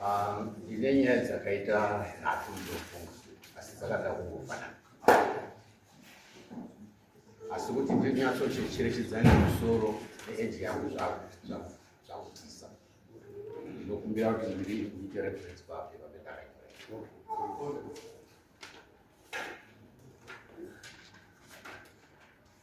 Ah, ndine nyaya dzakaita nhatu ndofunga asi dzakada kungofanana asi kuti ndinyatsocherechedzani musoro neeji yangu zvakutisa ndinokumbira kuti ndiri kuite reference papi vapedaraio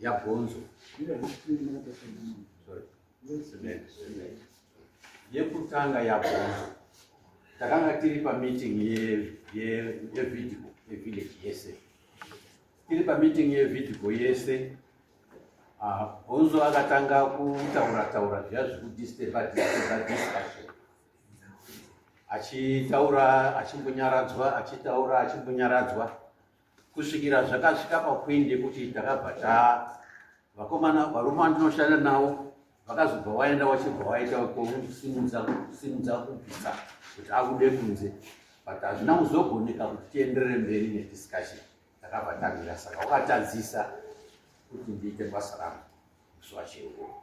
yabhonzo yekutanga yabhonzo takanga tiri pameeting yevidco yevillage yese tiri pameeting yevidco yese ah, bhonzo akatanga kutaura taura zviya zvekudisturba disturba discussion achitaura achimbonyaradzwa achitaura achimbonyaradzwa kusvikira zvakasvika papoindi yekuti takabva taa vakomana varume vandinoshanda navo vakazobva waenda wachibva waita kusimudza kusimudza kubvisa kuti abude kunze but hazvina kuzogoneka kuti tienderere mberi nediscussion takabva tamira saka wakatadzisa kuti ndiite basa rangu musi wacheuo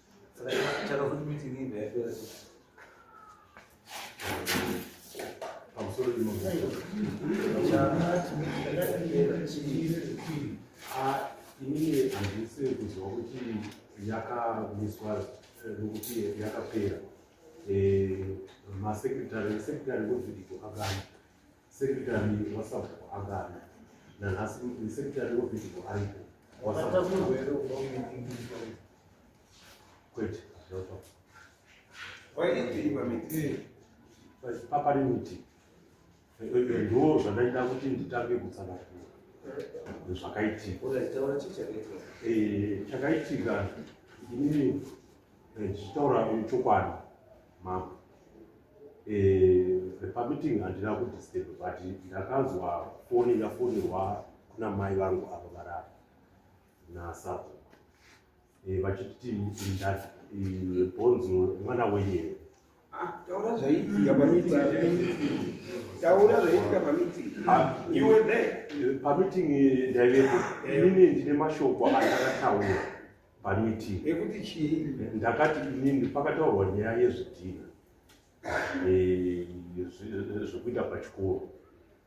inini handisi kuziva kuti yakamiswa nokuti eh, yakapera eh, masekretari sekretari wevhidhiyo akana Sekretari wasabhuku angana nanhasi sekretari wevhidhigo aripo kwete papari miti ndo zvandaida kuti nditange kutsanangura zvakaitika chakaitika inini zvichitaura chokwadi Mambo. Eh, the permitting handina kudisturb but ndakanzwa foni yafonirwa kuna mai vangu ava varara nasapo eh, vachiti bhonzo mwana wenyu here ah, taura zvaiitika pamiting taura zvaiitika pamiting ah, you were there pamiting ndaivepo eh. inini ndine mashoko andakataura pamiti yekuti chii ndakati inini pakataurwa nyaya yezvidhina eh, zvekuita pachikoro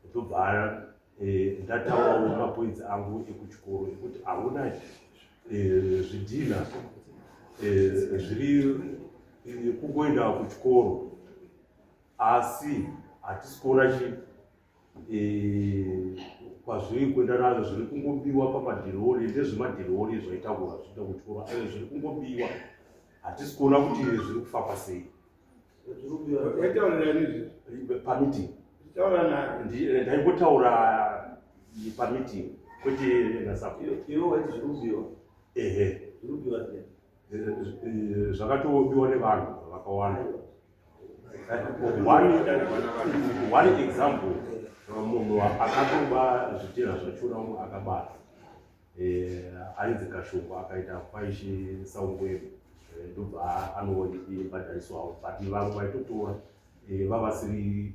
ndobva eh, ndataurawo mapoinzi angu ekuchikoro ekuti hauna eh, zvidhina zviri kungoenda kuchikoro asi hatisi kuona chii eh, kwazviri kuenda nazvo zviri kungobiwa pamadhirori ndezvemadhirori zvaitaura zvita kutora ayo zviri kungobiwa hatisi kuona kuti zviri kufamba sei pamiting eh, ndaingotaura eh, pamiting kwete nasaehe zvakatobiwa nevanhu vakawanda one example munhu akatoba zvitinha zvachura umwe akabata eh, ainzi kashungu akaita kwaishi saungwemu eh, ndobva anobhadhariswawo but vamwe vaitotora eh, vavasiri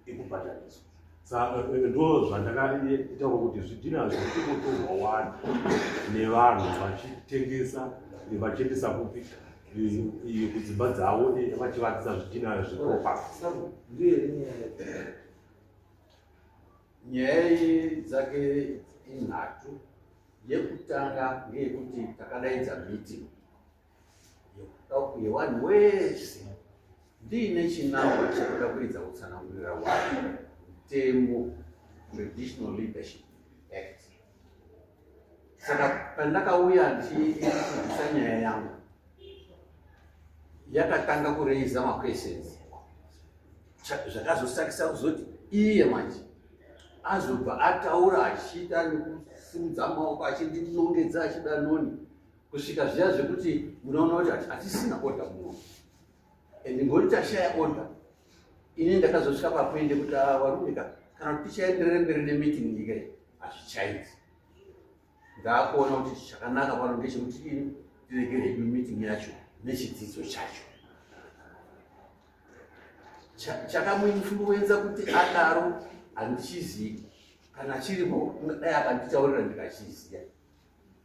ikubhadhariswa saka eh, ndo zvandakaitawo kuti zvidhina zvekutotorwa wani nevanhu vachitengesa eh, vachiendesa kupi eh, kudzimba dzavo vachivakisa zvidhina zvepropa nyaya dzake inhatu yekutanga ngeyekuti takadaidza meeting yekuda uye wani wese ndiine chinangwa chekuda kuridza kutsanangurira wani mutemo traditional leadership act saka pandakauya ndichiisa nyaya yangu yakatanga kureiza maquestions zvakazosakisa kuzoti iye manje azobva ataura achiita nekusimudza maoko achindinongedza achida noni kusvika zviya zvekuti munoona kuti hatisina order muno and ngoti tashaya order ini ndakazosvika papoinde kuti ah, varumika kana kuti tichaenderere mberi nemeeting nyika iyi hazvichaiti ndaakuona kuti chakanaka pano ndechekuti ini tirege hedu meeting yacho nechidzidzo chacho chakamuinfluenza kuti adaro handichizivi kana chiripo dai akanditaurira ndikachiziva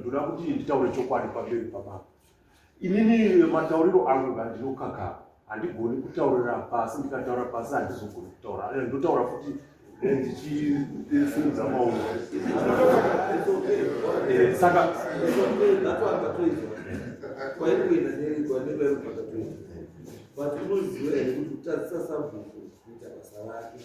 ndoda kuti nditaure chokwadi pamberi pababa inini matauriro angu ngandinokaka handigoni kutaurira pasi ndikataura pasi handizogoni kutaura eh, ndotaura futi eh, ndichisimudza maoko eh, saka but unoziva here kuti kutadzisa sabhuku kuita basa rake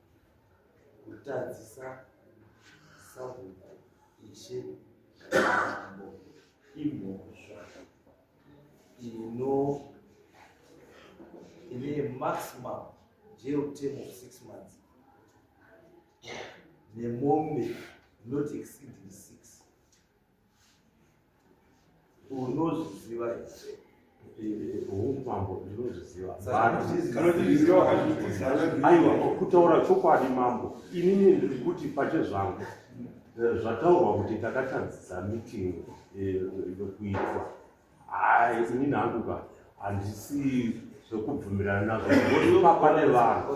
kutadzisa sabhuku ishe ambo imhosva ino ine maximum jail term of six months nemombe not exceeding six unozviziva umambo ndinozviziva aiwa kutaura chokwadi mambo inini ndiri kuti pache zvangu eh, zvataurwa kuti takatadzisa meeting eh, yokuitwa hai inini hangu ka handisi zvekubvumirana nazvo ipapa nevanhu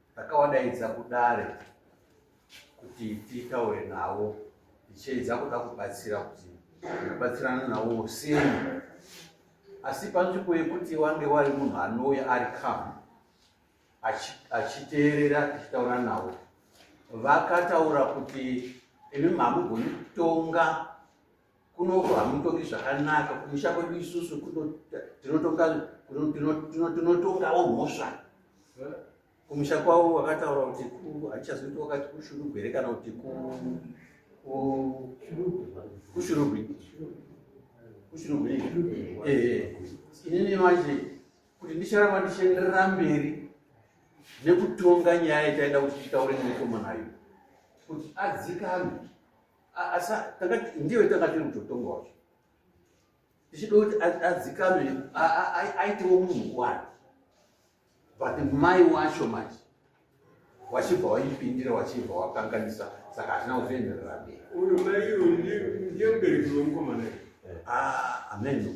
Takawadaidza kudare kuti titaure navo tichiedza kuda kubatsira kuti kubatsirana navo sei asi panzvimbo yekuti wange wari munhu anouya ari kamu achiteerera tichitaura navo vakataura kuti imi mamugoni kutonga kunoko hamutongi zvakanaka kumusha kwedu isusu tinotongawo mhosva kumusha kwavo wakataura kuti haichazoita wakati kushurugwere kana kuti kushurugwi kushurugwi inini manje kuti ndicharamba ndichienderera mberi nekutonga nyaya itaida kuti titaure nemukomanayo kuti adzikame Asa takati ndiwe takati mutotonga wacho. Tichida kuti adzikame aitewo munhu wani. But mai wacho manje wachibva waipindira wachibva wakanganisa saka hazvina kuzoenderera mberi. Uyu mai uyu ndiye mubereki wemukomana. Eh. Ah, ameno.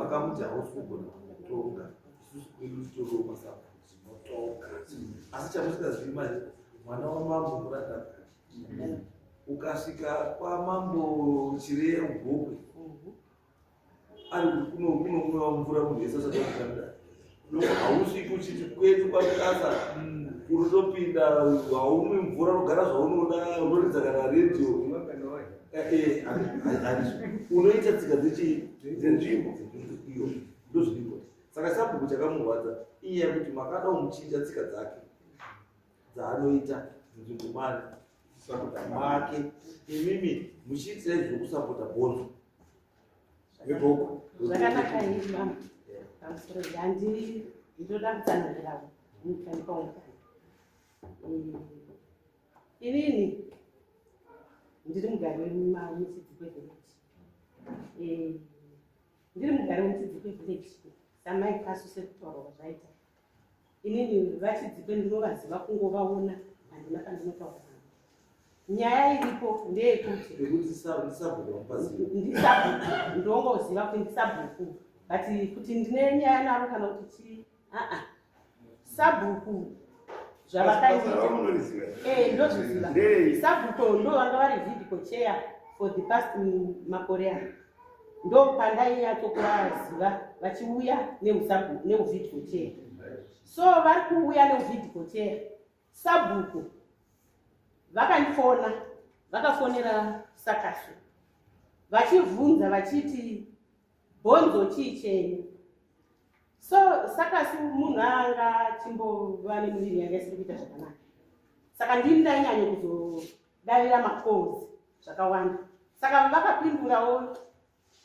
makamuti hausi kugona kutonga isusu kwedu toro masapo zvinotonga asi chamusikazivi manje mwana wamambo muranda ukasvika kwamambo chireya mugokwe ari kunokunwa mvura munhu wese asati akutanda hausviki uchiti kwedu kwamukasa unotopinda haumwi mvura unogara zvaunoda unoridza kana redio unoita tsika dzechii dzenzvimbo iyo ndozviripo saka sabhuku chakamurwadza iye kuti makada umuchinja tsika dzake dzaanoita nzvimbo mari kusapota make imimi muchiitira izvo kusapota bhondo veboko zvakanaka ii mama pamusoro handi ndoda kutsanangiravo mukanipaungani inini ndiri mugari wemusidzi kwevillage ndiri mugari wemusidzi kwevillage samai kasu sekutaurwa zvaita inini vachidzipe ndinovaziva kungovaona handina kandinotaura nyaya iripo ndeyekuti ndongoziva kuti ndisabhuku but kuti ndine nyaya naro kana kuti chii aa sabhuku zvavakaitndozviziva sabhuku ndovanga vari vidiko cheya for the past makore ano ndopandainyatsokuvaziva vachiuya neuvidiko chee so vari kuuya neuvidiko chee sabhuku vakandifona vakafonera sakasu vachivhunza vachiti bhonzo chii chenyu so sakasu munhu anga chimbova nemuviri yanga isiri kuita zvakanaka saka ndini ndainyanyo kuzo davira macalls zvakawanda saka vakapindurawo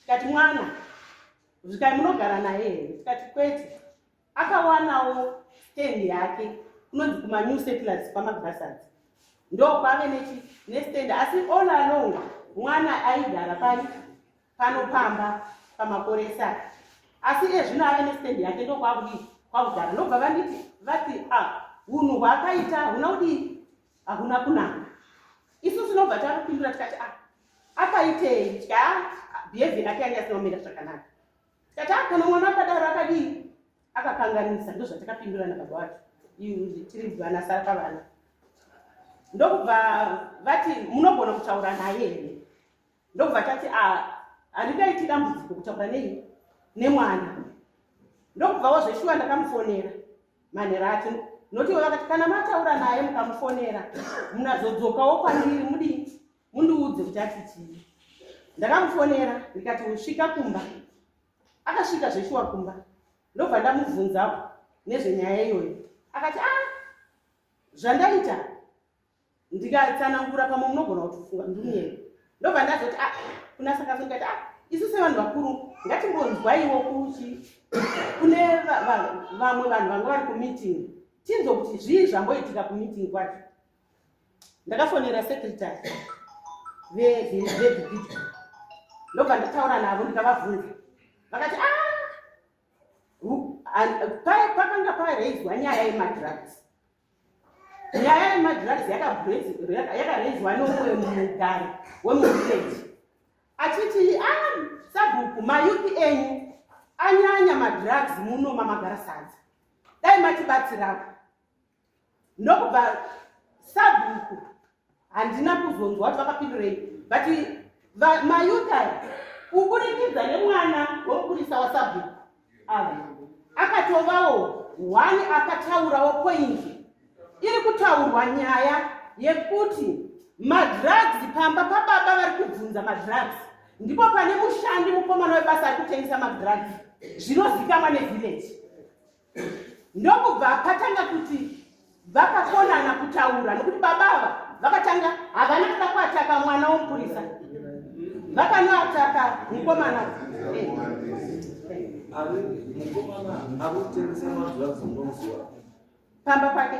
tikati mwana zvikai munogara naye here tikati kwete akawanawo stand yake kunonzi kumanew settlers kwamagrassards ndokwave nestand asi all along mwana aigara pai pano pamba pamakore saka asi iye zvino ave nestand yake ndokwakudii kwakugara ndobva vanditi vati a ah, hunhu hwaakaita hahuna kudii hahuna kunaka isu tinobva takupindura tikati a ah, akaitei tya behavior yake yange asinomira zvakanaka tikati a ah, kana mwana akadaro akadii akakanganisa ndozvatakapindurana baba wacho tiri mvana sara pavana ndokubva vati munogona kutaura naye here ndobva tati ah, handingaiti dambudziko kutaura nei nemwana ndokubva wazveshuwa ndakamufonera manhero acho noti iwe vakati kana mataura naye mukamufonera munazodzokawo kwandiri mudi mundiudze kuti ati chii ndakamufonera ndikati usvika kumba akasvika zveshuwa kumba ndobva ndamubvunzawo nezvenyaya iyoyo akati a ah, zvandaita ndikatsanangura pamwe munogona kutofunga ndimuyeni ndobva ndazoti a ah, kuna sakaso ndikati a ah, isu sevanhu vakuru ngatimbonzwaiwo kuchi kune vamwe vanhu vanga vari kumeeting tinzwe kuti zvii zvamboitika kumeeting kwacho ndakafonera secretary vevevidio ndobva ndataura navo ndikavabvunza vakati a ah, pakanga paraiswa nyaya yemadrugs nyaya yemadrugs yakarezwa nomwe mugari wemuvillage achiti a ah, sabhuku mayupi enyu anyanya madrugs muno mamagara sadza dai matibatsirawo ndokubva sabhuku handina kuzonzwa kuti vakapindurei but mayuta kuburikidza nemwana wemupurisa wasabhuku ava akatovawo one akataurawo pointi iri kutaurwa nyaya yekuti madrugs pamba pababa vari kubvunza madrugs ndipo pane mushandi mukomana webasa ari kutengesa madrugs zvinozikamwa nevillage ndokubva patanga kuti vakakonana kutaura nokuti baba ava vakatanga havana kuda kuataka mwana womupurisa vakanoataka mukomana pamba pake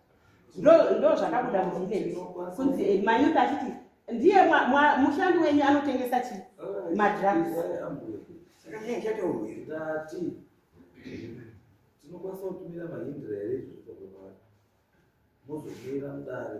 ndo zvakabuda muvileji kunzi eh, mayuth achiti ndiye mushandi wenyu anotengesa chi madrugs tinokwanisa kutumira mahindira here izvozvo mozomira mudare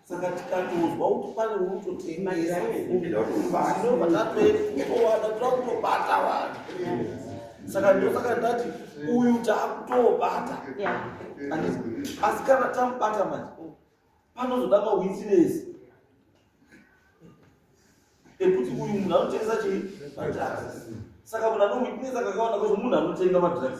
saka tikatozwa kuti pane unototengaira ndinobva tatoenda takutobata vanhu saka ndosaka ndati uyu taakutobata asi kana tamubata manje panozoda mawitness ekuti uyu munhu anotengesa chii madrugs saka munhu anowitness akakaona kuti munhu anotenga madrugs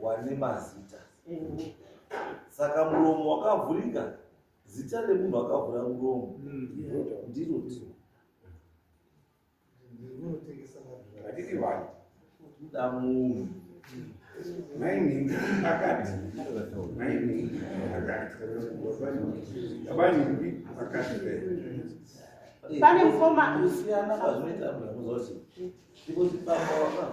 wane mazita saka muromo wakavhurika zita remunhu akavhura muromo mm. ndiro tiro hatiti vanhu kuda munhu mainini akati mainini akati abaningi akati pane mfoma kusiyana kwazvinoita mnhu amuzoti ndikuzipamba waka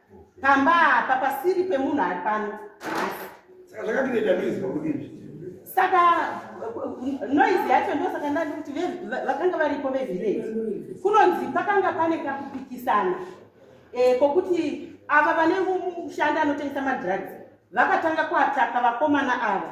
pamba apa pasiri pemunhu ari pano saka zvakatoita noise pakudii saka noise yacho ndo saka ndati kuti vakanga varipo vevillage kunonzi pakanga pane kakupikisana eh, kokuti ava vane mushandi anotengesa madrugs vakatanga kuataka vakomana ava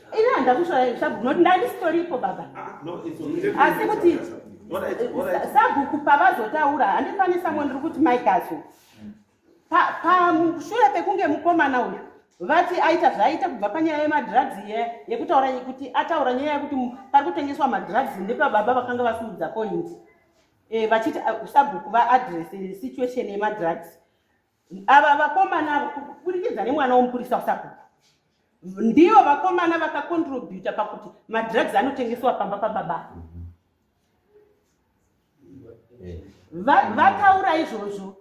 Ini handida kushora sabhuku noti ndandisitoripo baba ah, asi kuti sabhuku pavazotaura handifanisa mo ndiri kuti maikazo pashure pekunge mukomana uyu vati aita zvaaita kubva panyaya yemadrugs iye yekutaura kuti ataura nyaya yekuti pari kutengeswa madrugs ndepababa vakanga vasiudza point eh, vachiti ah, sabhuku vaadress situation yemadrugs Ava vakomana ava kuburikidza nemwana womupurisa wasakuku ndivo vakomana vakakontributa pakuti madrugs anotengeswa pamba pababa vataura izvozvo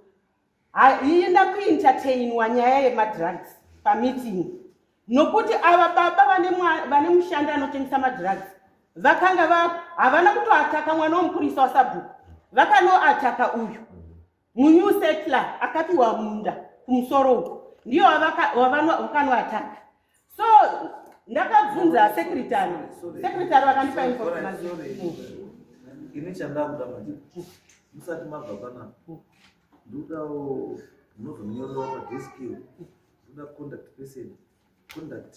haina kuentertainwa nyaya yemadrugs pameeting nokuti ava baba vane mushandi anotengesa madrugs vakanga havana kutoataka mwana womupurisa wasabhuku vakanoataka uyu munew settler akapiwa munda kumusoro uko ndiyo wavanoataka so ndakabvunza secretary secretary vakandipa information ini chandakuda manje musati mabva panapa ndodawo munozonyorera padeskiyo ndoda contact person contact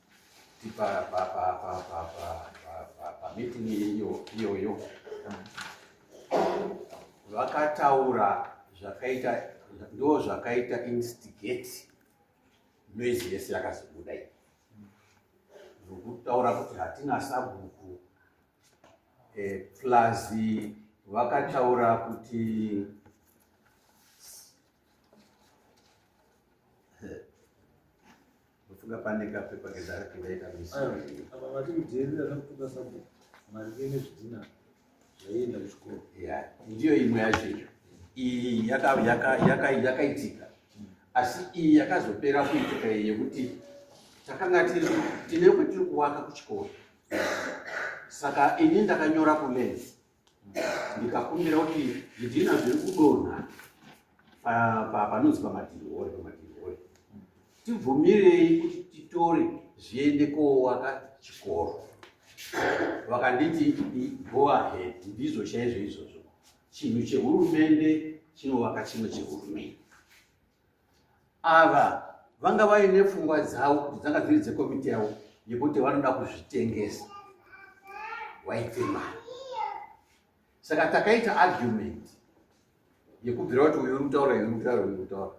tipara papapapapapapa meeting iyoyo vakataura zvakaita ndo zvakaita instigate noise yese yakazobuda iyi zvokutaura kuti hatina sabhuku eh, plus vakataura kuti Ndofunga pane kapepa kedark ndaita misori. Apa vati kuteerera zvakutuka sabhuku maringe nezvidhina zvaienda kuchikoro. Yeah, ndiyo imwe yacho iyo. Iyi yaka- yaka- yaka- yakaitika asi iyi yakazopera kuitika iyi yekuti takanga tiri tine kwetiri kuwaka kuchikoro saka ini ndakanyora kulenzi ndikakumbira kuti zvidhina zviri kudonha panonzi pamadhirihori pamadhirihori tibvumirei kuti titore zviende koowaka chikoro vakanditi go ahead ndizvo chaizvo izvozvo chinhu chehurumende chinovaka chimwe chehurumende ava vanga vaine pfungwa dzavo kuti dzanga dziri dzekomiti yavo yekuti vanoda kuzvitengesa waite mari saka takaita argument yekubvira kuti uyu urikutaura uyu urikutaura uyu urikutaura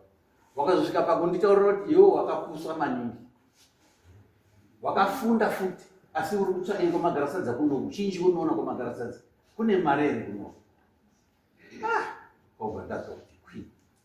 wakazosvika pakunditaurira kuti iwo wakapuswa maningi wakafunda futi asi uri kutsvakei kwamagarasadza kuno uchinji unoona kwamagarasadza kune mari here kuno ah, kobva ndazoti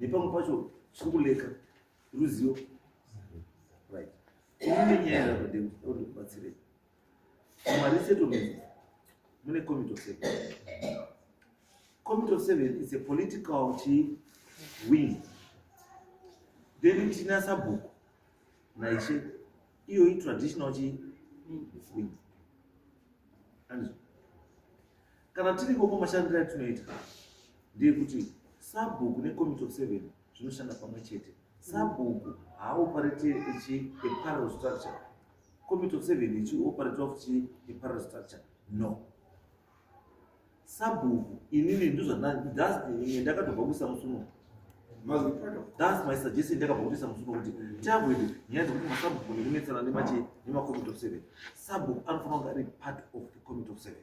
nepamwe pacho chiri kuleka ruzivo right ine nyaya yakadini ode kubatsirei maresettlement mune committee of seven committee of seven is a political chi wing then tina sabhuku naiche iyo itraditional chi wing andizvo kana tiri ikoko mashandiro atinoita ndeyekuti sabhuku necommitte of seven zvinoshanda pamwe chete sabhuku haaoparate echiaparel structure committe of seven ichioparate of chiaparel structure no sabhuku inini ndozvandazimwe ndakatobva kuisa musuno thats my suggestion ndakabva kutoisa musuno kuti tiavoid nyaya dzekuti masabhuku nekunetsana nemache nemacommitte of seven sabhuku anofanira kunge ari part of the committe of seven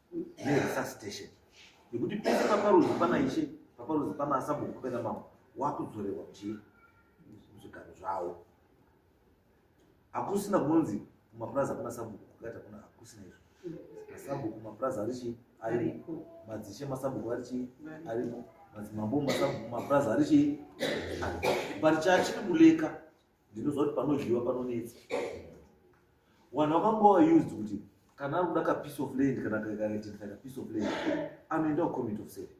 neresuscitation nekuti pese paparudzi pana ishe paparudzi pana asabhuku pena mambo wakudzorewa chii zvigaro zvawo hakusina kunzi kumapurazi akuna sabhuku kukati akuna hakusina izvo masabhuku mapurazi ari chii ari madzishe masabhuku ari chii ari madzimambo masabhuku mapurazi ari chii parichachiri kuleka ndinoziva kuti panozhiva panonetsa wanhu wakambowa used kuti kana ari kuda kapiece of land kana kaidentify kapiece of land anoenda kucommitte of seven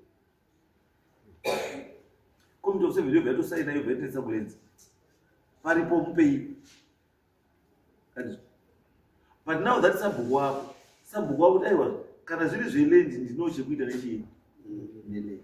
committe of seven yobva yatosaina yobva yatonetsa kulenzi paripo mupei but now that sabhuku wako sabhuku wako kuti aiwa kana zviri zvelendi ndino chekuita nechii nelendi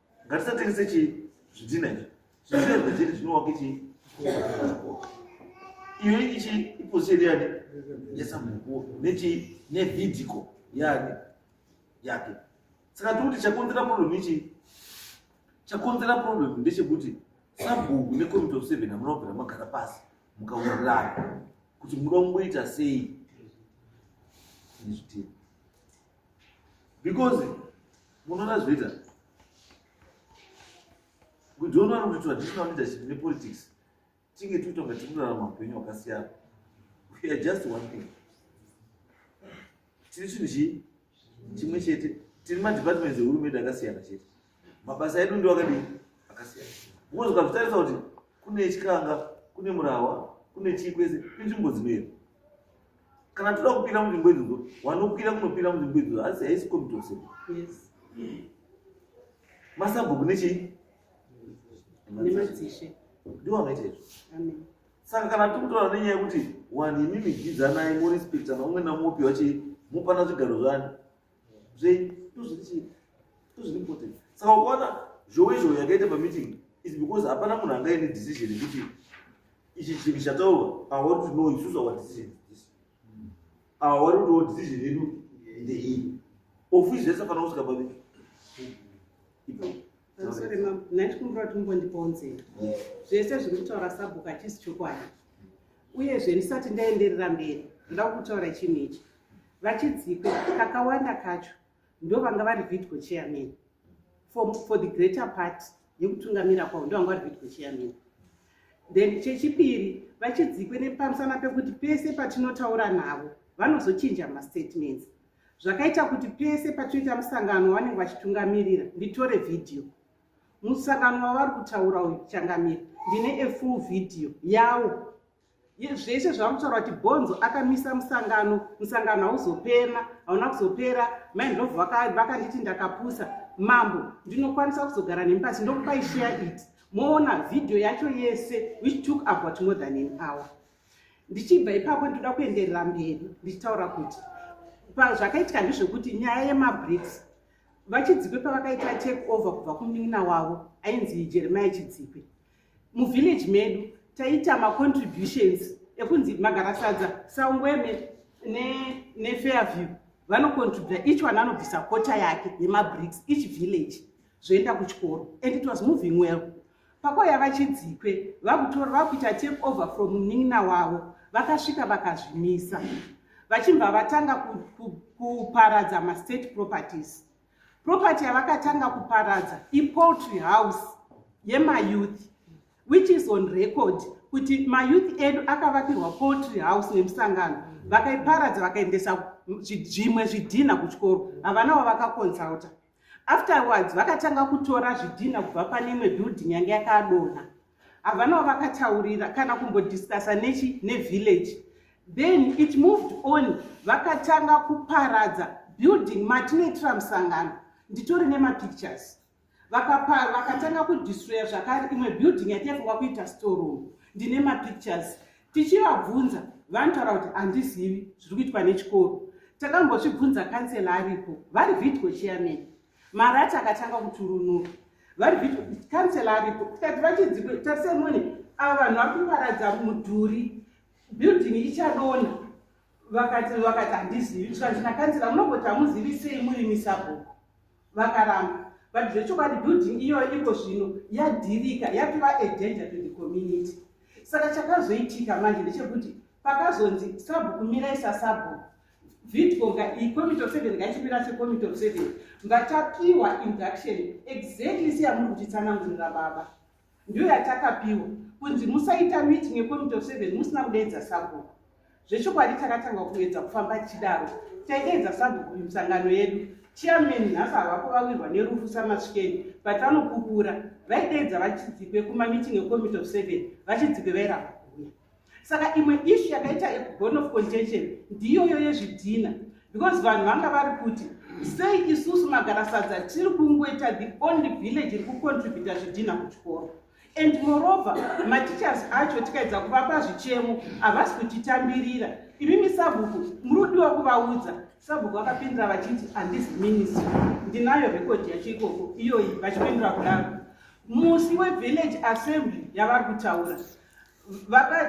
ngatisatengese chii zvidhina izvi zvidhina zvazviri zvinovake chii iyo ichi iposeri yani yesamukuwo nechii nevidiko yani yake saka tiri kuti chakonzera problem ichi chakonzera problem ndechekuti sabhuku necommitte of seven hamuna kubvira magara pasi mukaurirana kuti munoda kungoita sei nezvitiro because munoona zvinoita kudiona vari kuti traditional leadership nepolitics tinge tiita kunga tikurarama upenyu hwakasiyana we are just one thing tiri chinhu chii chimwe chete tiri madepartments ehurumende akasiyana chete mabasa edu ndiwo akadii akasiyana because ukazvitarisa kuti kune chikanga kune murahwa kune chii kwese inzvimbo dzinoera kana toda kupira munzvimbo idzodzo wanokwira kunopira munzvimbo idzodzo asi haisi komitose masabhuku nechii ndiwo anoita izvo saka kana tiri kutaura nenyaya yekuti wani imimi jidzanai morispekta naumwe namopiwa chii mopana zvigaro zvani zvenyu ndozvirichii ndozviri important saka ukaona zhowe zhowe yakaita pameeting is because hapana munhu anga ine decision yekuti ichi chinhu chataurwa awari kuti no isusu our decision this awari kuti wo decision yedu ndeiyi ofisi zvese fana kusvika pameeting ipo sorry mam nandikumbira kuti mumbondipawo nzira zvese zviri kutaura sabhuku hachisi chokwadi uyezve ndisati ndaenderera mberi ndoda kutaura chinhu ichi vachidzikwe kakawanda kacho ndo vanga vari vidgo chairman for, for the greater part yekutungamira kwavo ndo vanga vari vidgo chairman then chechipiri vachidzikwe nepamusana pekuti pese patinotaura navo vanozochinja mastatements zvakaita kuti pese patinoita musangano wavanenge vachitungamirira nditore vhidhiyo musangano wavari kutaura uyu changamira ndine efull vhidhiyo yawo zvese zvavakutaura kuti bhonzo akamisa musangano musangano hauzopena hauna kuzopera maindlovu vakanditi ndakapusa mambo ndinokwanisa kuzogara nemi pasi ndokupai share it moona vhidhiyo yacho yese which took about more than an hour ndichibva ipapo ndinoda kuenderera mberi ndichitaura kuti zvakaitika ndezvekuti nyaya yemabriks vachidzikwe pavakaita take over kubva kunin'ina wavo ainzi jeremiya chidzikwe muvillage medu taita macontributions ekunzi magarasadza sangweme nefairview ne vanocontributa each one anobvisa kota yake yemabriks each village zvoenda kuchikoro and it was moving well pakauya vachidzikwe vakutora vakuita take over from munin'ina wavo vakasvika vakazvimisa vachibva vatanga kuparadza mastate properties property yavakatanga kuparadza ipoultry house yemayouth which is on record kuti mayouth edu akavakirwa poultry house nemusangano vakaiparadza vakaendesa zvimwe zvidhinha kuchikoro havana wavakakonsulta Afterwards vakatanga kutora zvidhina kubva pane imwe building yange yakadonha. Havanawo vakataurira kana kumbodiscussa nechi nevillage. Then it moved on vakatanga kuparadza building matinoitira musangano nditori nemapictures vakapa vakatanga kudistroya zvakare imwe building yataifunga kuita storeroom ndine mapictures tichivabvunza vanotaura kuti handizivi zviri kuitwa nechikoro takambozvibvunza kansela aripo vari vidco chairman marati akatanga kuturunura vari vidco kansela aripo tikati vachidzi tarisemone ava vanhu vari kuparadza mudhuri building ichadona vakati vakati handizivi zvikanzi nakansela munogoti hamuzivi sei muri misabhuku vakaramba but zvechokwadi building iyoyo iko zvino yadhirika yatova agenja to the community saka chakazoitika manje ndechekuti pakazonzi sabhuku mirai sasabhuku vidco ngaicommitte of seven ngaichimira secommitte of seven ngatapiwa induction exactly seyamuri kutitsanangurira baba ndiyo yatakapiwa kunzi musaita meeting yecommittee of seven musina kudeedza sabhuku zvechokwadi takatanga kuedza kufamba tichidaro taideedza sabhuku kumisangano yedu chairman nhasi havako vawirwa nerufu samasvikeni but vanopupura vaideedza vachidzikwe kumamiting ecommittee of seven vachidzikwe vairamba kuuya saka imwe ishu yakaita bone of contention ndiyoyo yezvidhina because vanhu vanga vari kuti sei isusu magarasadza tiri kungoita the only village iri kucontributa zvidhina kuchikoro and morova mateachers acho tikaedza kuvapa zvichemo havasi kutitambirira imi misabhuku muri kudiwa kuvaudza sabhuku vakapindura vachiti handisi ministry ndinayo rekodhi yacho ikoko iyoyi vachipindura kudaro musi wevillage assembly yavari kutaura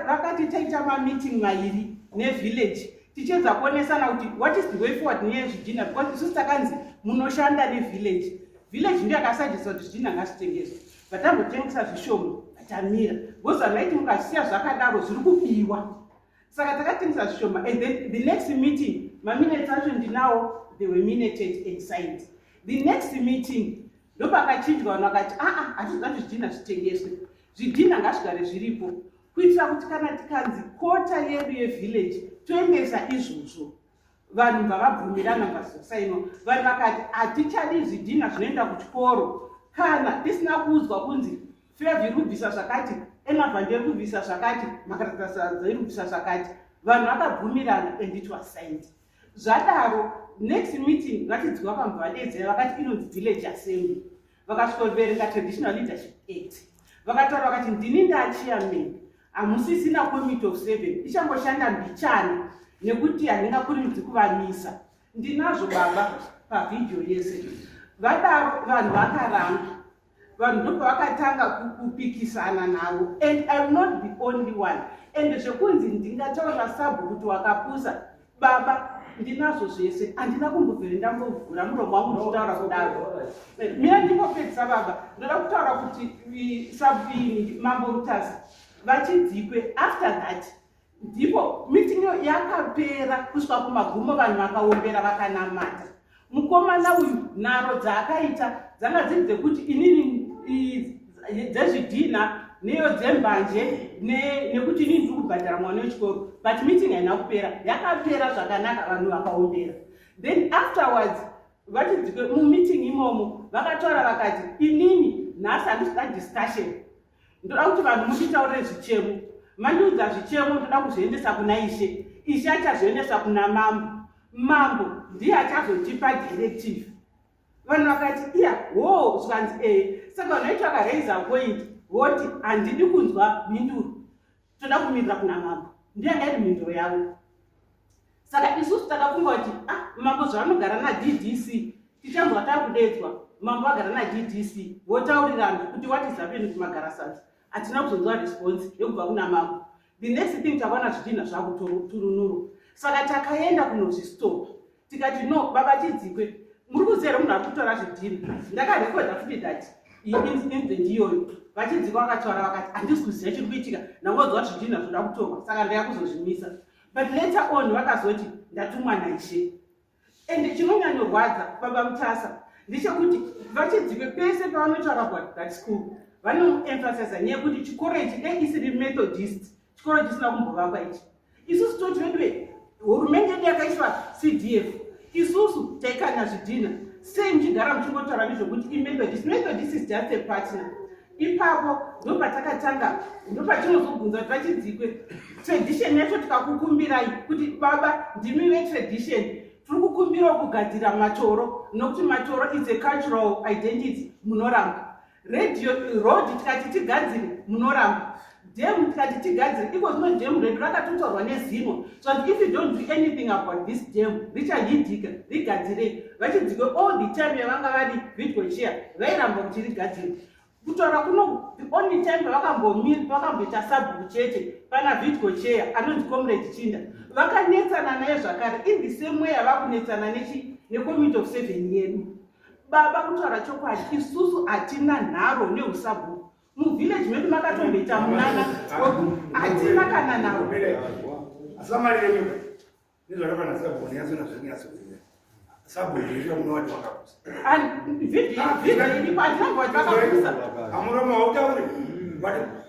vakati taita mameeting mairi nevillage tichiedza kuonesana kuti what is the way forward nezvidhina because isusu takanzi munoshanda nevillage village ndiyo yakasajisa kuti zvidhina ngazvitengeswa vatambotengesa zvishoma vatamira because vanhu vaiti mukazvisiya zvakadaro zviri kubiwa saka takatengesa zvishoma and then the next meeting maminutes acho ndinawo they were minated and signed the next meeting ndopakachinjwa vanhu vakati aa ah, ah, hatizati zvidhina zvitengeswe Zvidhinha ngazvigare zviripo kuitira kuti kana tikanzi kota yedu yevillage toendesa izvozvo vanhu bvavabvumirana bvazosainwa vanhu vakati hatichadi zvidhinha zvinoenda kuchikoro kana tisina kuudzwa kunzi fevhi rubvisa zvakati emavhande rubvisa zvakati makaratasadzai rubvisa zvakati vanhu vakabvumirana and it was signed zvadaro next meeting vatidzwa pamuvadedzera vakati inonzi village assembly vakasvikoverenga traditional leadership act vakataura vakati ndini ndachiamen hamusisina committe of seven ichangoshanda mbichani nekuti handingakurimidzi kuvamisa ndinazvo baba pavhidhiyo yese vadaro vanhu vakaranga vanhu ndo pavakatanga kupikisana navo and iwill not be only one and zvekunzi ndingataura sabhu kuti wakapusa baba ndinazvo zvese handina kumbobvere ndambovhura muromo wangu ndichitaura kudaro mira ndingopedzisa baba ndoda kutaura kuti sabini mambo mutasa vachidzipwe after that ndipo meeting yapera kusvika kumagumo vanhu vakaombera vakanamata mukomana uyu nharo dzaakaita dzanga dziri dzekuti inini dzezvidhina neyo dzembanje nekuti inini ndiri kubhadhara mwana wechikoro but meeting haina kupera yakapera zvakanaka vanhu vakaombera then afterwards vachidzike mumeeting imomo vakataura vakati inini nhasi handisida discussion ndoda kuti vanhu munditaurire zvichemo mandiudza zvichemo ndoda kuzviendesa kuna ishe ishe achazviendesa kuna mambo mambo ndiye achazotipa directive vanhu vakati iya wo zvikanzi ee saka vanhu vaiti vakaraiza point voti handidi kunzwa mhinduro toda kumirira kuna mambo ndiyanga iri mhinduro yavo saka isusu takafunga kuti a ah, mambo zvavanogara naddc tichanzwa takudedzwa mambo vagara naddc votaurirana kuti what is happening kumagara sasa hatina kuzonzwa response yekubva kuna mambo the next thing takaona zvitinha zvakuturunuro saka takaenda kunozvistop tikati no baba chidzikwe muri kuziva here munhu ari kutora zvidhiri ndakarekoda futi that incident iyoyo vachidzikwa vakataura vakati handisi kuziva chiri kuitika ndangonzwa kuti zvidhiri nazvoda kutorwa saka ndaya kuzozvimisa but later on vakazoti ndatumwa naishe and chinonyanyorwadza baba mutasa ndechekuti vachidzikwe pese pavanotaura kuat that school vanoemphasiza nyaya yekuti chikoro ichi dei isiri methodist chikoro chisina kumbovakwa ichi isusu toti veduve hurumende yedu yakaiswa cdf isusu taikanya zvidhina sei muchigara muchingotaura nezvekuti imethodist methodist is just a partner ipapo ndopatakatanga ndopatinozobvunza kuti vachidzikwe tradition yacho tikakukumbirai kuti baba ndimi vetradition tiri kukumbirawo kugadzira matoro nokuti matoro is a cultural identity munoramba radio road tikati tigadzire munoramba dam tikati tigadzire iko zvino dam redu rakatotorwa nezino so that if you don't do anything about this dam richahidika rigadzirei vachidzike all the time yavanga vari vidgo chia vairamba kuti rigadzire kutaura kuno the only time pavakambomira pavakamboita sabhuku chete pana vidgo chea anonzi comrade chinda vakanetsana naye zvakare in the same way yavakunetsana nechi necommittee of seven yedu baba kutaura chokwadi isusu hatina nharo neusabhuku muvillage medu makatomboita munana hatina kana naro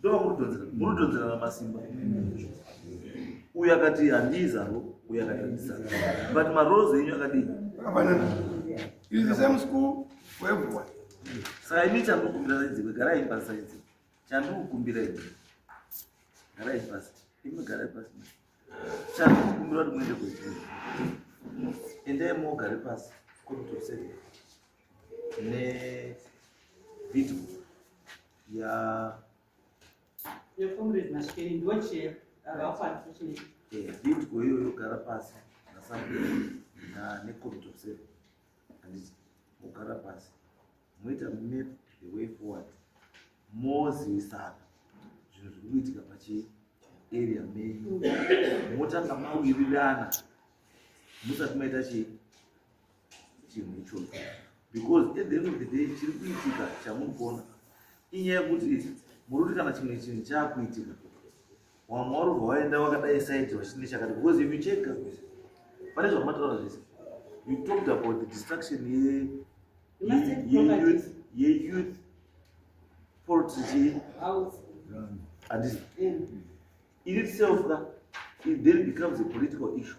ndovamurudonzera murudonzera ramasimba uyo akati handii zaro uyo akati handisa but marozi enyu akadii saka ini chandikukumbira saidzikwe garai pasi saidzi chandikukumbira i garai pasi imwe garai pasi chandikukumbira kuti muende kwei endai mogare pasi komitosee ne video Yeah. Your comrade Mashikeni ndiwo chair akapa unfortunately. Eh, vidgo iyoyo yogara pasi naSabhuku na necommittee of seven handiti mogara pasi moita map the way forward mozivisana zvinhu zviri kuitika pachi area menyu motanga mawirirana musati maita chii chinhu ichocho because at the end of the day chiri kuitika chamuri kuona inyaya yekuti muri kuti kana chimwe chinhu chaakuitika wamwe wari kubva waenda wakadai saiti vachine chakati because if you check pane zvamataura zvese you talked about the destruction yeyouth portry andisi in itself ka it then becomes a political issue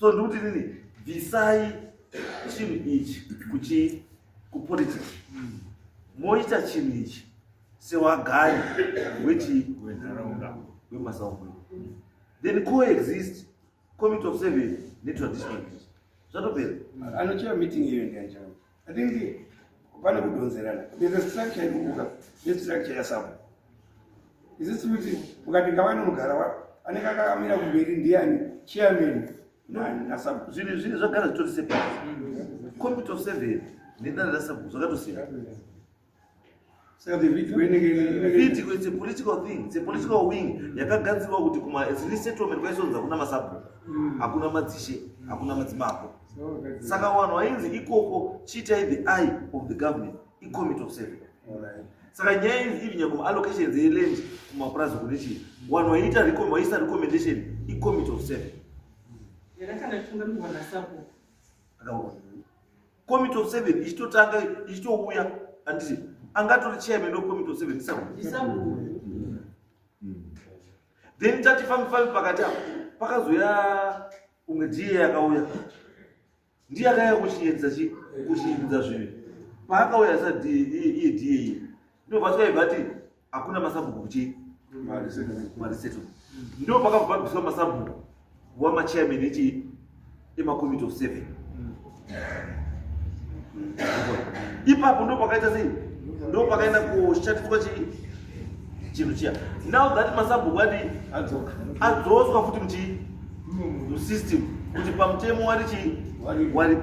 so ndikuti nini bvisai chinhu ichi kuchi kupolitics moita chinhu ichi sewagari wechi wenharaunda wemasaumwe then coexist committee of seven netraditional zvatopera anochera meeting iyo ndianjaa I think pane kudonzerana there's a structure inomuka nestructure yasabo isisi kuti ukati ngava inonogara wa anenge akakamira kumberi ndiani chairman nasabo zvinhu zvinhu zvagara zvitori sepa committee of seven nedana rasabo zvakatosiyana saka video it's a political thing it's a political wing yakagadzirwa kuti kuma resettlement kwaisonza kuna masabhuku mm. hakuna madzishe hakuna madzimako saka wanhu wainzi ikoko chiitai the eye of the government icommittee of seven saka nyaya inzi ivi nyangoma allocations eland kumapurazi kune chii wanhu waiita waisa recommendation icommittee of seven akaona committee of seven ichitotanga ichitouya anditi angatori chairman wecommittee of seven isabu then tati fambi fambi pakati apo pakazouya umwe diye yakauya ndiye akaya kuchiedza kuchiedza zvinhu paakauya sa iye diye iye Ndoo paswai vati hakuna masabhuku kuchii mariseto ndo pakabhabhiswa masabhuku wamachairman echi emakomiti of seven ipapo ndo pakaita sei ndo pakaenda kushatiswa chii chinhu chiya now that masabhuku ati adzoswa futi muchii musystem kuti pamutemo wari chii waripo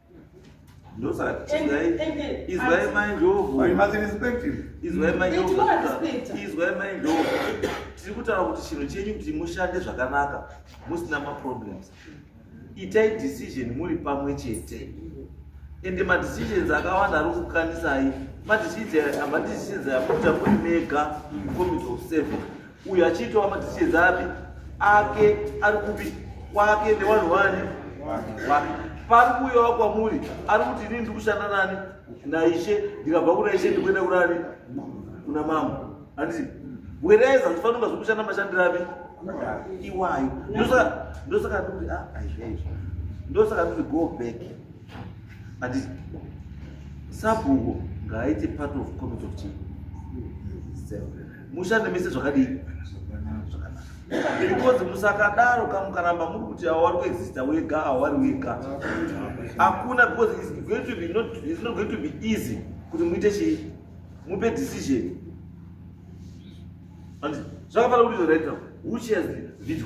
No, sir. And, Israel, and, and, Israel mind job. But you must respect him. Israel mind job. Israel mind job. Tiri kutaura kuti chinhu chenyu kuti mushande zvakanaka musina maproblems. Itai decision muri pamwe chete. Ende madecisions akawanda ari kukanisai. Madecisions aya madecisions amuita muri mega committee of seven. Uyu achiitwa matichedza api ake ari kupi kwake nevanhu vani wake pari kuuyawa kwamuri ari kuti inini ndikushanda nani naishe ndikabva kuna ishe ndikuenda kunani kuna mambo anditi wereza ndifanira kunga zvekushanda mashandiro api iwayo ndosaka ndikuti ah, aizvaizvo ndosaka ndikuti go back anditi sabhuku ngaaite part of committee of chief mushande mese zvakadii because musakadaro ka mukaramba muri kuti awari kuexista wega awari wega hakuna because it's going to be not, it's not going to be easy kuti muite chii mupe decision zvakafanira kuti zvoraita who shares the video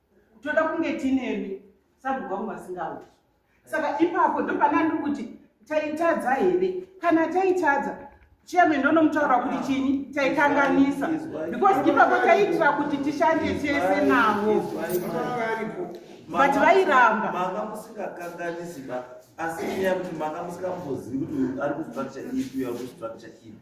toda kunge tinemi sabhuku vangu vasingauti saka ipapo ndopana ndiri kuti taitadza here kana taitadza chiyame ndonomutaura kuti chini taikanganisa because ipapo taiitira kuti tishande tese navo but vairamba manga musingakanganisi ba asi nyaya kuti manga musingambozivi kuti ari kustructure ipi uyo ari kustructure ipi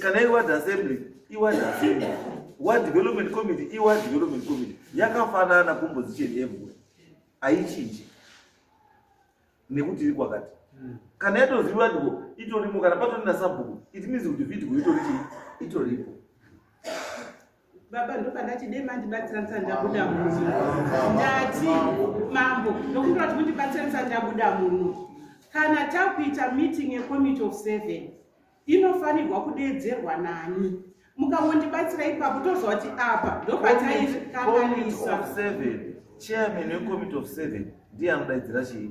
kana iward assembly iward assembly ward development committee iward development committee yakafanana composition everywhere haichinji nekuti iri kwakati hmm. kana yatoziviwa ndiko itorimo kana patorina sabhuku it means kuti vidgo itori chii itoripo baba ndopandati dei mandibatsiranisa ndabuda muno ndati mambo ndokumbira kuti mundibatsiranisa ndabuda muno kana takuita meeting yecommittee of seven inofanirwa kudeedzerwa nani mukangondibatsira ipapo toziva kuti apa ndopataikanganisa chairman wecommittee of seven ndiye anodaidzira chii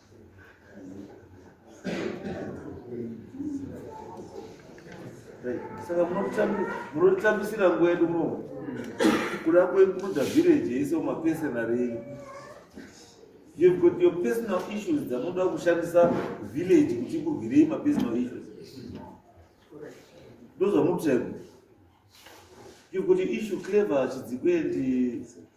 saka munotambisira nguva yedu mo kuda kwekuda village yese umapesenarei you've got your personal issues dzanoda kushandisa village kuti kurwirei mapersonal issues ndozvamutsvego you've got your issue clever chidzikwendi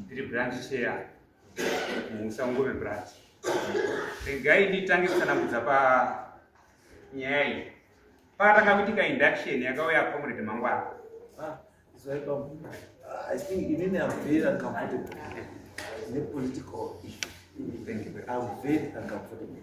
ndiri branch chair muusangome branch regai nditange kusanangudza panyaya iyi pakatanga kuitika induction yakauya comrade mangwana ah, ah, i think inini am very uncomfortable nepolitical issue am very uncomfortable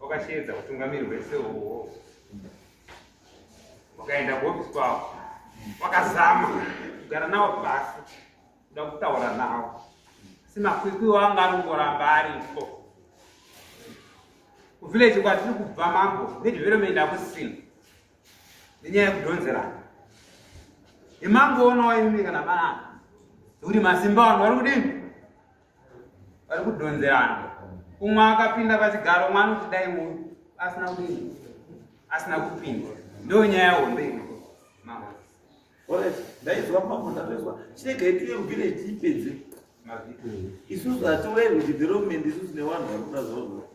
Wakasheedza hutungamiri hwese uhwo. Wakaenda kuhofisi kwavo. Wakazama kugara navo pasi. Kuda kutaura navo. Asi makwikwi wanga arongoramba aripo. Kuvillage kwatiri kubva mambo nedevelopment akusina. Nenyaya yekudhonzerana. Imangoona waimika nabanana. Uri masimba wangu vari kudini? vari kudhonzerana umwe akapinda pachigaro umwe anoti dai uyu asina kudii asina kupinda ndo nyaya hombe ndaizwa mafuta toizwa chirega itiye kuvhileji ipedze isusu hatiwei kuti development isusu nevanhu vari kuda zvavo